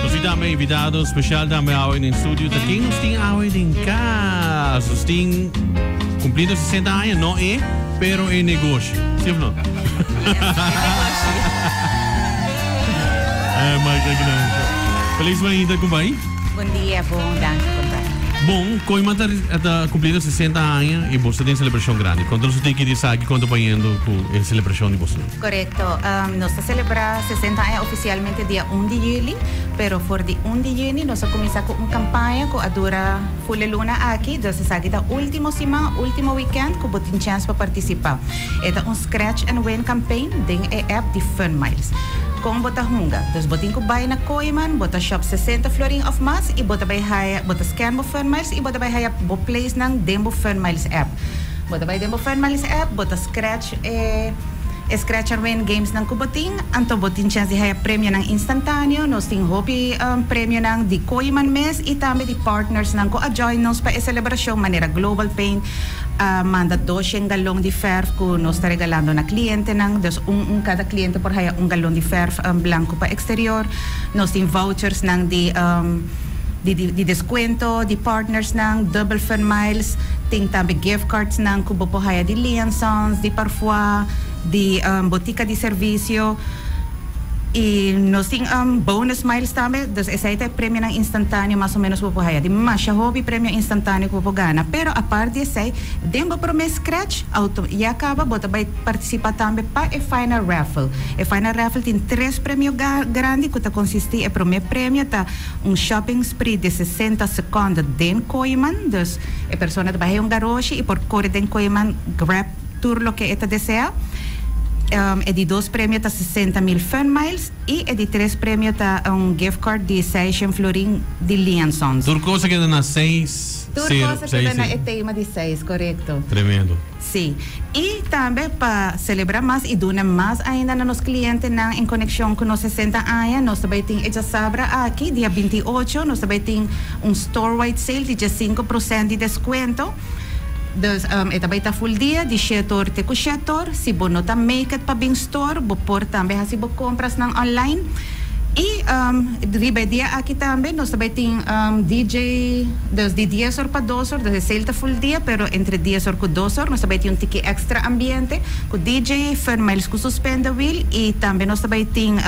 Nos tin tambe invitado special tambe awe den studio. Ta ken nos tin awe den cas? Nos tin cumplido 60 aña, no e, pero e negoshi. Si of no? Eh, Michael Gnanco. Feliz mañita, compay. Bon dia, bon. Danki, compay. Bon, Koima ta, ta cumplido 60 aña y boso tin celebracion grandi. Conta nos un tiki di esaki con ta bayendo cu e celebracion di boso. Korekto. Nos ta selebrá sesenta aña ofisialmente dia un di yüli, pero for di un di yüni nos a kuminsá ku un kampaña ku a dura full e luna aki, dus esaki ta último siman, último wikènt ku bo tin chèns pa partisipá. E ta un scratch and win campaign den e app di Funmiles. Kon bo ta hunga? Dus bo tin ku bai na Kooiman, bo ta shòp sesenta florin òf mas i bo ta bai haya, bo ta scan bo Funmiles i bo ta bai haya bo place nan den bo Funmiles app. Bo ta bai den bo Funmiles app, bo ta scratch. E Scratch and Win gamesnan ku bo tin, anto bo tin chèns di haya premionan instantáneo. Nos tin hopi premionan di Koeiman mes i tambe di partnersnan ku a join nos pa e selebrashon manera Global Paint a manda dos shen galon di fèrf ku nos ta regalando na klientenan. Dus un un kada kliente por haya un galon di fèrf blanku pa eksterior. Nos tin vouchersnan di. Di deskuento di partnersnan, dubbel fun miles, tin tambe gift cardsnan ku bo por haya di Lee and Sons, di Parfois, di botika di servisio. I nos tin bonus miles tambe, dus esei ta e premionan instantaneo mas o menos ku bo por haya. Tin masha hopi premio instantaneo ku bo por gana. Pero apart di esei, den bo promé scratch, auto, ya a kaba bo ta bai partisipa tambe pa e final raffle. E final raffle tin tres premio ga, grandi ku ta konsistí, e promé premio ta. Un shopping spree di sesenta sekond den Koeiman, dus e persona ta bah'é un garoshi i por kore den Koeiman, grab tur loke e ta desea. E di dos premio ta sesenta mil funmiles i e di tres premio ta un gift card di seis shen florin di Lee and Sons. Tur cosa keda na seis, Tur sero, cosa seis, keda na e sero. tema di seis, korekto. Tremendo. Sí. I tambe pa selebrá mas i duna mas ainda na nos klientenan en konekshon ku nos sesenta aña, nos ta bai tin e djasabra aki, dia binti i ocho, nos ta bai tin un store-wide sale di djasinku prosènt di deskuento. Dus, e ta bai ta ful dia, di shèt òr te ku shèt òr. Si bo no ta make it pa bin store, bo por tambe hasi bo komprasnan online. Y riba e dia aki tambe nos ta bay tin DJ dus di dies or pa dos or, dus e sale ta full dia pero entre dies or cu dos or nos ta bay tin un tiki extra ambiente cu DJ Fermijls cu su Spender Wheel y tambe nos ta bay tin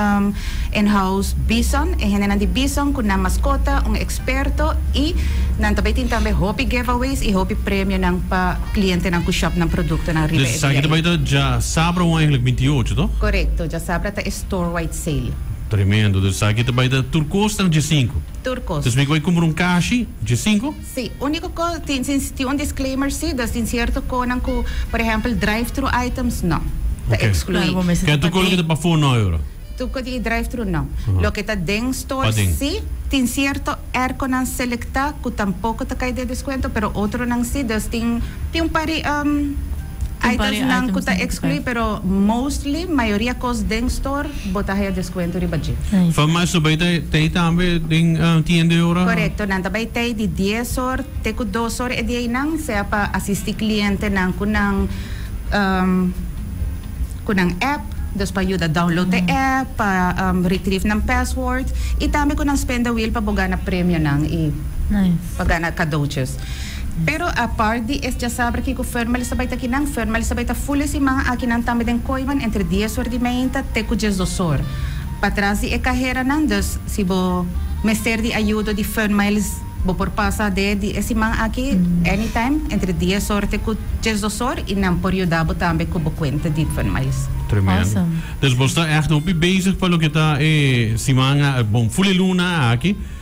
in house Bison, e hendenan di Bison cu nan mascota un experto y nan ta bay tin tambe hopi giveaways y hopi premionan pa clientenan cu shop nan productonan riba e dia ey. Dja sabra un eigenlijk binti y ocho, toch? Correcto, dja sabra ta e. Thor White Sale. Tremendo, dus esaki ta bai ta tur cos ta na dje sinku. Tur cos. Dus mi bai cumpra un cashi dje sinku? Sí, unico co tin sin tin un disclaimer sí, dus tin cierto conan cu por ejempel drive thru items no, ta exclui. Ken tur cos loke ta pafo no e ora? Tur cos di drive thru no. Loke ta den store sí, tin cierto erconan selecta cu tampoco ta cay den descuento pero otronan sí, dus tin tin un par di. Hay ta esnan cu ta exclui pero mostly mayoria cos den store bo ta haya descuento riba dje. Farmacia bay ta tey tambe den tienda e ora? Correcto, nan ta bay tey di dies or te cu dos or e di eynan sea pa asisti clientenan cu nan cu nan app, dus pa yuda download te app, pa retrieve nan password y tambe cu nan spin the wheel pa bo gana premionan y pa gana cadoutjes. Pero apart di es djasaber kiko ferma el estabai ta kinan ferma el estabai ta ful e siman aki nan tambe den koiman entre dies or di meinta te ku djes dos or patras di e kaheranan dus si bo mester di ayudo di ferma el bo por pasa de di e siman aki anytime entre dies or te ku djes dos or i nan por yuda bo tambe ku bo kuenta di ferma el. Tremendo. Awesome. Dus bo sta ègt hopi bezig pa loke ta e siman a bon ful e luna aki.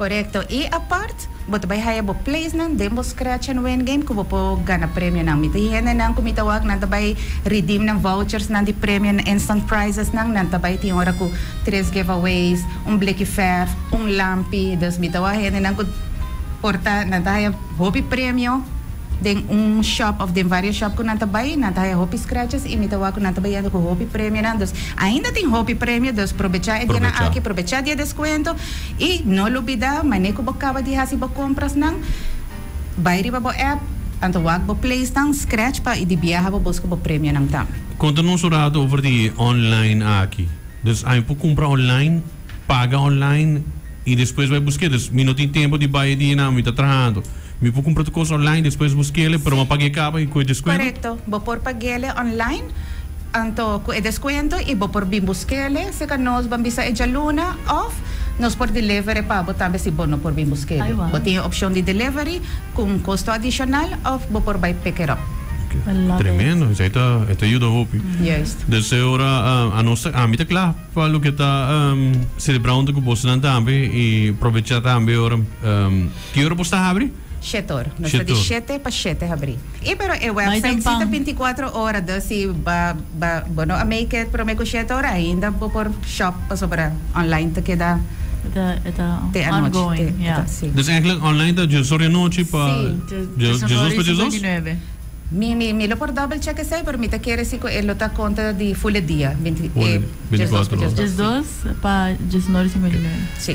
Korekto, i apart, bo ta bai haya bo playsnan den bo Scratch and Win game ku bo por gana premionan. Mi ta hi hendenan ku mi ta wak nan ta bai redeem nan vouchersnan di premio, nan instant prizesnan. Nan ta bai tin ora ku tres giveaways, un bliki vèrf, un lampi. Dus mi ta wak hendenan ku por ta, nan ta haya hopi premio. Den un shop of den varios shop cu nan ta bay nan ta haya hopi scratches y mi ta wak cu nan ta bay yendo cu hopi premionan dus ainda tin hopi premio dus probecha e dianan aki probecha di e descuento y no lubida mane cu bo caba di haci bo comprasnan bay riba bo app anto wak bo place nan scratch pa di biaha bo busca bo premionan tambe. Conta nos un rato over di online aki. Dus ai por cumpra online? Paga online y despues bai busque. Dus mi no tin tempo di bai e dia nan, mi ta trahando. Mi por cumpra tu cos online despues busquele, pero ma pague caba y cu e descuento? Correcto, bo por paguele online anto cu e descuento y bo por bin busquele seca nos ban bisa e djaluna of nos por delivere pa bo tambe si bo no por bin busquele. Bo tin e opcion di delivery cu un costo adicional of bo por bai pick it up. Tremendo, esai ta yuda hopi. Juist. Dus e ora anos ta, ami ta cla. Pa loke ta celebrando cu bosonan tambe y probecha tambe ora ki ora bos ta abri? Shete or. Nos ta di shete pa shete habri. Y pero e website si ta binti cuatro ora dus si ba ba bo no a make it prome cu shete ora ainda bo por shop pasobra online ta keda te anochi te ta si. Dus eigenlijk online ta djezor di anochi pa djezos pa djezos? Mi mi mi lo por double check esei pero mi ta kere si ku e lo ta konta di ful e dia binti e Ful e djes dos binticuatro ku djes dos Djes si dos pa djes nor i sima di nor. si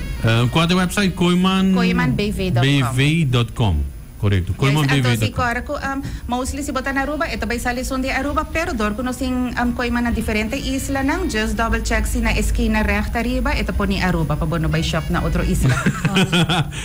Kua ta website? Koeman Koemanbv dot com BV dot com. Korekto. ya esei Koeman BV anto si dot com. kora ku am mostly si bo ta na Aruba e ta bai sali esun di Aruba pero dor ku nos tin am koeman na diferente islanan djes double check si na eskina règta riba e ta poni Aruba pa bo no bai shòp na otro isla.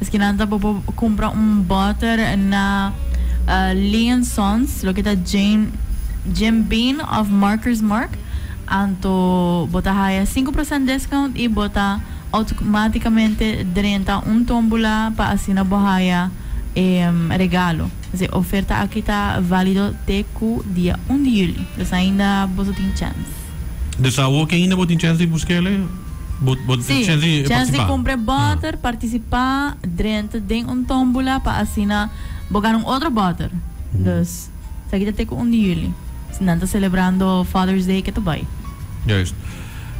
Miskinan ta bo por cumpra un butter na Lee and Sons, loke ta Jim Jim Beam of Markers Mark, anto bo ta haya sinku procent discount y bo ta automaticamente drenta un tombula pa asina bo haya e regalo. Esei oferta aki ta valido te cu dia un di juli, dus ainda boso tin chance. Dus awor ki ainda bo tin chance di busca ele. Si, chèns di kumpra e bòter, partisipá, drenta den un tómbula pa asina bo gana un otro bòter. Dus, esaki ta te ku un di juli. Si nan ta selebrando Father's Day, ke ta bai. Juist.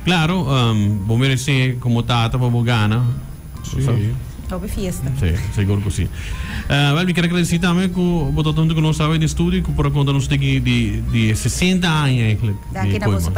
Klaro, bo meresé komo tata pa bo gana. Sí. Hopi fiesta. Sí, sigur ku sí. Wèl, mi ker agradesí tambe ku bo ta junto ku nos awe den studio ku por a konta nos tingui di e sesenta aña, èiklèk, di Koeman.